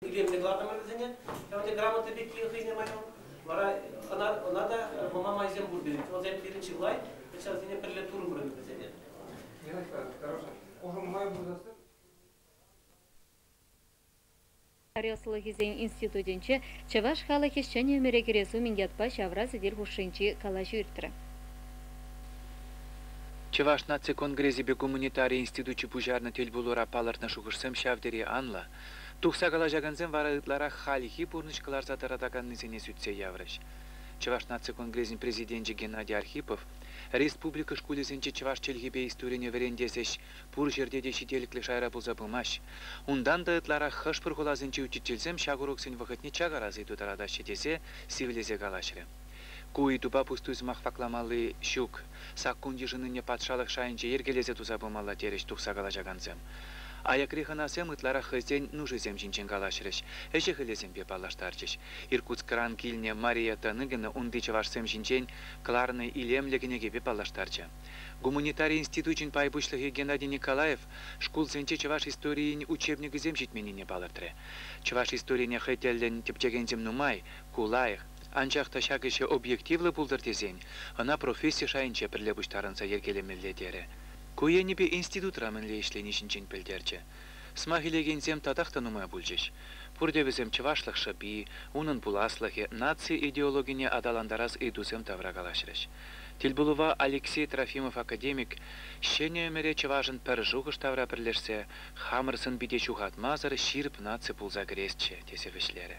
илемлӗ кӑлартӑмӑр вӗсене. Ҫавӑн пек грамота пекки хӑйне майон. Вара ӑна, ӑна та мама майсем пурте. Вӑл пирӗн чылай, ачасене пӗрле турӑмӑр вӗсене. Шупашкар ӑслӑхӗсен институтӗнче чӑваш халӑхӗ ҫӗнӗ ӗмӗре кӗрес умӗн ятпа ҫавра сӗтел хушшинчи калаҫу иртрӗ. Чӑваш наци конгресӗпе гуманитари институчӗ пуҫарнӑ тӗлпулура палӑртнӑ шухӑшсем ҫав тери анлӑ, Тухса калаҫакансем вара ытларах хальхи пурнӑҫ кӑларса тӑратаканнисене сӳтсе яврӗҫ. Чӑваш наци конгресӗн президенчӗ Геннадий Архипов республика шкулӗсенче чӑваш чӗлхипе историне вӗрентес ӗҫ пур ҫӗрте те ҫителӗклӗ шайра пулса пымасть. Унтан та ытларах хӑш-пӗр хуласенчи учительсем ҫак уроксен вӑхӑтне чакарас ыйту тӑратаҫҫӗ тесе сивлесе калаҫрӗ. Ку ыйтупа пустуй сӑмах вакламалли ҫук. Саккун йышӑннине патшалӑх шайӗнче йӗркелесе туса пымалла, терӗҫ тухса калаҫакансем. Аякри хӑнасем ытларах хӑйсен нушисем ҫинчен калаҫрӗҫ, ӗҫӗ-хӗлӗсемпе паллаштарчӗҫ. Иркутскран килнӗ Мария Тоныгина унти чӑвашсем ҫинчен кӑларнӑ илемлӗ кӗнекепе паллаштарчӗ. Гуманитари институчӗн пай пуҫлӑхӗ Геннадий Николаев шкулсенче чӑваш историйӗн учебникӗсем ҫитменнине палӑртрӗ. Чӑваш историне хӑй тӗллӗн тӗпчекенсем нумай, ку лайӑх. Анчах та ҫак ӗҫе объективлӑ пултӑр тесен ӑна професси шайӗнче пӗрле пуҫтарӑнса йӗркелемелле терӗ. Ку енӗпе института мӗнле ӗҫлени ҫинчен пӗлтерчӗ. Сӑмах илекенсем татах та нумай пулчӗҫ. Пурте вӗсем чӑвашлӑх шӑпи, унӑн пуласлӑхӗ, наци идеологине аталантарас ыйтусем тавра калаҫрӗҫ. Тӗлпулӑва Алексей Трофимов академик ҫӗнӗ ӗмӗре чӑвашӑн пӗр шухӑш тавра пӗрлешсе хамӑр сӑн-пите ҫухатмасӑр ҫирӗп наци пулса кӗресчӗ тесе вӗҫлерӗ.